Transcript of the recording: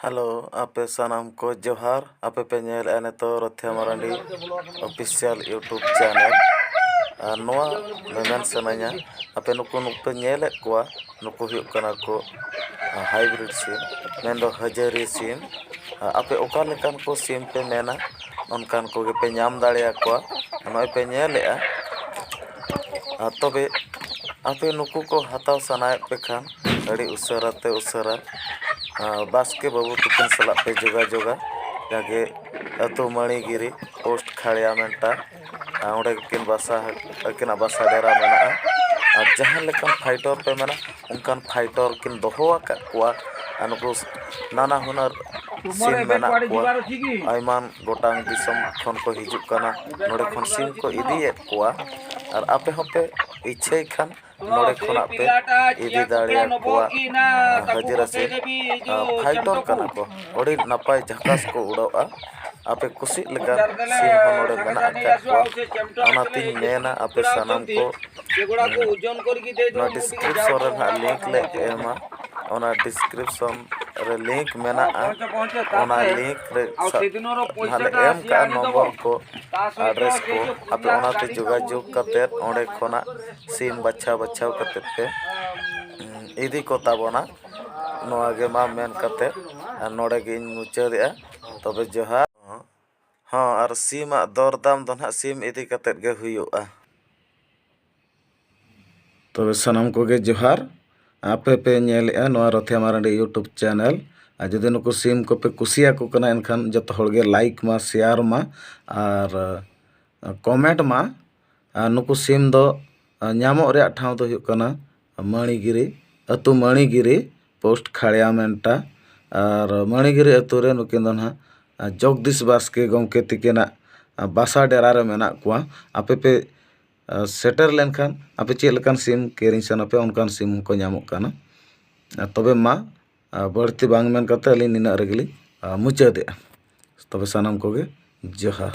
hello ᱟᱯᱮ ᱥᱟᱱᱟᱢ ᱠᱚ ᱡᱚᱦᱟᱨ ᱟᱯᱮ ᱯᱮ ᱧᱮᱞᱮᱫᱼᱟ ᱱᱤᱛᱚᱜ Rothia Marandi official YouTube channel ᱟᱨ ᱱᱚᱣᱟ ᱢᱮᱢᱮᱱ ᱥᱟᱱᱟᱧᱟ ᱟᱯᱮ ᱱᱩᱠᱩ ᱱᱩᱠᱩ ᱯᱮ ᱧᱮᱞᱮᱫ ᱠᱚᱣᱟ ᱱᱩᱠᱩ ᱦᱩᱭᱩᱜ ᱠᱟᱱᱟ ᱠᱚ ᱦᱟᱭᱵᱨᱤᱰ ᱥᱤᱢ ᱢᱮᱱ ᱫᱚ ᱦᱟᱹᱡᱟᱹᱨᱤ ᱥᱤᱢ ᱟᱯᱮ ᱚᱠᱟ ᱞᱮᱠᱟᱱ ᱠᱚ ᱥᱤᱢ ᱯᱮ ᱢᱮᱱᱟ ᱚᱱᱠᱟᱱ ᱠᱚᱜᱮ ᱯᱮ ᱧᱟᱢ ᱫᱟᱲᱮᱭᱟᱠᱚᱣᱟ ᱱᱚᱜᱼᱚᱭ ᱯᱮ ᱧᱮᱞᱮᱫᱼᱟ ᱟᱨ ᱛᱚᱵᱮ ᱟᱯᱮ ᱱᱩᱠᱩ ᱠᱚ ᱦᱟᱛᱟᱣ ᱥᱟᱱᱟᱭᱮᱫ ᱯᱮ ᱠᱷᱟᱱ ᱟᱹᱰᱤ ᱩᱥᱟᱹᱨᱟ ᱛᱮ ᱩᱥᱟᱹᱨᱟ ᱵᱟᱥᱠᱮ ᱵᱟᱹᱵᱩ ᱛᱟᱹᱠᱤᱱ ᱥᱟᱞᱟᱜ ᱯᱮ ᱡᱳᱜᱟᱡᱳᱜᱟ ᱡᱟᱜᱮ ᱟᱹᱛᱩ ᱢᱟᱹᱬᱤᱜᱤᱨᱤ ᱯᱳᱥᱴ ᱠᱷᱟᱲᱭᱟ ᱢᱮᱴᱟ ᱟᱨ ᱚᱸᱰᱮ ᱜᱮᱠᱤᱱ ᱵᱟᱥᱟ ᱟᱹᱠᱤᱱᱟᱜ ᱵᱟᱥᱟ ᱰᱮᱨᱟ ᱢᱮᱱᱟᱜᱼᱟ ᱟᱨ ᱡᱟᱦᱟᱸ ᱞᱮᱠᱟᱱ ᱯᱷᱟᱭᱴᱚᱨ ᱯᱮ ᱢᱮᱱᱟ ᱚᱱᱠᱟᱱ ᱯᱷᱟᱭᱴᱚᱨ ᱠᱤᱱ ᱫᱚᱦᱚ ᱟᱠᱟᱫ ᱠᱚᱣᱟ ᱟᱨ ᱱᱩᱠᱩ ᱱᱟᱱᱟ ᱦᱩᱱᱟᱹᱨ ᱥᱤᱢ ᱢᱮᱱᱟᱜ ᱠᱚᱣᱟ ᱟᱭᱢᱟ ᱜᱚᱴᱟᱝ ᱫᱤᱥᱚᱢ ᱠᱷᱚᱱ ᱠᱚ ᱦᱤᱡᱩᱜ ᱠᱟᱱᱟ ᱱᱚᱰᱮ ᱠᱷᱚᱱ ᱥᱤᱢ ᱠᱚ ᱤᱫᱤᱭᱮᱫ ᱠᱚᱣᱟ ᱟᱨ ᱟᱯᱮ ᱦᱚᱸᱯᱮ ᱤᱪᱪᱷᱟᱹᱭ ᱠᱷᱟᱱ ᱱᱚᱰᱮ ᱠᱷᱚᱱᱟᱜ ᱯᱮ ᱤᱫᱤ ᱫᱟᱲᱮᱭᱟ ᱠᱚᱣᱟ ᱦᱟᱹᱡᱨᱟ ᱥᱮ ᱯᱷᱟᱭᱴᱚᱨ ᱠᱟᱱᱟ ᱠᱚ ᱟᱹᱰᱤ ᱱᱟᱯᱟᱭ ᱡᱷᱟᱠᱟᱥ ᱠᱚ ᱩᱰᱟᱹᱜᱼᱟ ᱟᱯᱮ ᱠᱩᱥᱤᱜ ᱞᱮᱠᱟ ᱥᱤᱢ ᱦᱚᱸ ᱱᱚᱰᱮ ᱢᱮᱱᱟᱜ ᱟᱠᱟᱫ ᱠᱚᱣᱟ ᱚᱱᱟᱛᱤᱧ ᱢᱮᱱᱟ ᱟᱯᱮ ᱥᱟᱱᱟᱢ ᱠᱚ ᱱᱚᱣᱟ ᱰᱤᱥᱠᱨᱤᱯᱥᱚᱱ ᱨᱮ ᱱᱟᱦᱟᱜ ᱞᱤᱝᱠ ᱞᱮ ᱮᱢᱟ ᱚᱱᱟ ᱰᱤᱥᱠᱨᱤᱯᱥᱚᱱ ᱨᱮ ᱞᱤᱝᱠ ᱢᱮᱱᱟᱜᱼᱟ ᱚᱱᱟ ᱞᱤᱝᱠ ᱨᱮ ᱱᱟᱦᱟᱜ ᱞᱮ ᱮᱢ ᱠᱟᱜᱼᱟ ᱱᱚᱢᱵᱚᱨ ᱠᱚ ᱟᱰᱨᱮᱥ ᱠᱚ ᱟᱯᱮ ᱚᱱᱟᱛᱮ ᱡᱳᱜᱟᱡᱳᱜᱽ ᱠᱟᱛᱮᱫ ᱚᱸᱰᱮ ᱠᱷᱚᱱᱟᱜ ᱥᱤᱢ ᱵᱟᱪᱷᱟᱣ ᱵᱟᱪᱷᱟᱣ ᱠᱟᱛᱮ ᱯᱮ ᱤᱫᱤ ᱠᱚ ᱛᱟᱵᱚᱱᱟ ᱱᱚᱣᱟ ᱜᱮ ᱢᱟ ᱢᱮᱱ ᱠᱟᱛᱮ ᱱᱚᱰᱮ ᱜᱮᱧ ᱢᱩᱪᱟᱹᱫᱮᱜᱼᱟ ᱛᱚᱵᱮ ᱡᱚᱦᱟᱨ ᱦᱚᱸ ᱟᱨ ᱥᱤᱢᱟᱜ ᱫᱚᱨ ᱫᱟᱢ ᱫᱚ ᱱᱟᱦᱟᱜ ᱥᱤᱢ ᱤᱫᱤ ᱠᱟᱛᱮ ᱜᱮ ᱦᱩᱭᱩᱜᱼᱟ ᱛᱚᱵᱮ ᱥᱟᱱᱟᱢ ᱠᱚᱜᱮ ᱡᱚᱦᱟᱨ ᱟᱯᱮ ᱯᱮ ᱧᱮᱞᱮᱜᱼᱟ ᱱᱚᱣᱟ ᱨᱚᱛᱷᱮ ᱢᱟᱨᱟᱱᱰᱤ ᱤᱭᱩᱴᱩᱵᱽ ᱪᱮᱱᱮᱞ ᱟᱨ ᱡᱩᱫᱤ ᱱᱩᱠᱩ ᱥᱤᱢ ᱠᱚᱯᱮ ᱠᱩᱥᱤᱭᱟᱠᱚ ᱠᱟᱱᱟ ᱮᱱᱠᱷᱟᱱ ᱡᱚᱛᱚ ᱦᱚᱲ ᱜᱮ ᱞᱟᱭᱤᱠ ᱢᱟ ᱥᱮᱭᱟᱨ ᱢᱟ ᱟᱨ ᱠᱚᱢᱮᱱᱴ ᱢᱟ ᱟᱨ ᱱᱩᱠᱩ ᱥᱤᱢ ᱫᱚ ᱧᱟᱢᱚᱜ ᱨᱮᱭᱟᱜ ᱴᱷᱟᱶ ᱫᱚ ᱦᱩᱭᱩᱜ ᱠᱟᱱᱟ ᱢᱟᱹᱬᱤᱜᱤᱨᱤ ᱟᱹᱛᱩ ᱢᱟᱹᱬᱤᱜᱤᱨᱤ ᱯᱳᱥᱴ ᱠᱷᱟᱲᱭᱟ ᱢᱮᱱᱴᱟ ᱟᱨ ᱢᱟᱹᱬᱤᱜᱤᱨᱤ ᱟᱹᱛᱩ ᱨᱮ ᱱᱩᱠᱤᱱ ᱫᱚ ᱱᱟᱦᱟᱜ ᱡᱚᱜᱽᱫᱤᱥ ᱵᱟᱥᱠᱮ ᱜᱚᱢᱠᱮ ᱛᱤᱠᱤᱱᱟᱜ ᱵᱟᱥᱟ ᱰᱮᱨᱟ ᱨᱮ ᱢᱮᱱᱟᱜ ᱠᱚᱣᱟ ᱟᱯᱮ ᱯᱮ ᱥᱮᱴᱮᱨ ᱞᱮᱱᱠᱷᱟᱱ ᱟᱯᱮ ᱪᱮᱫ ᱞᱮᱠᱟᱱ ᱥᱤᱢ ᱠᱤᱨᱤᱧ ᱥᱟᱱᱟ ᱯᱮᱭᱟ ᱚᱱᱠᱟᱱ ᱥᱤᱢ ᱦᱚᱸᱠᱚ ᱧᱟᱢᱚᱜ ᱠᱟᱱᱟ ᱟᱨ ᱛᱚᱵᱮ ᱢᱟ ᱵᱟᱹᱲᱛᱤ ᱵᱟᱝ ᱢᱮᱱ ᱠᱟᱛᱮᱫ ᱟᱹᱞᱤᱧ ᱱᱤᱱᱟᱹᱜ ᱨᱮᱜᱮ ᱞᱤᱧ ᱢᱩᱪᱟᱹᱫᱮᱜᱼᱟ ᱛᱚᱵᱮ ᱥᱟᱱᱟᱢ ᱠᱚᱜᱮ ᱡᱚᱦᱟᱨ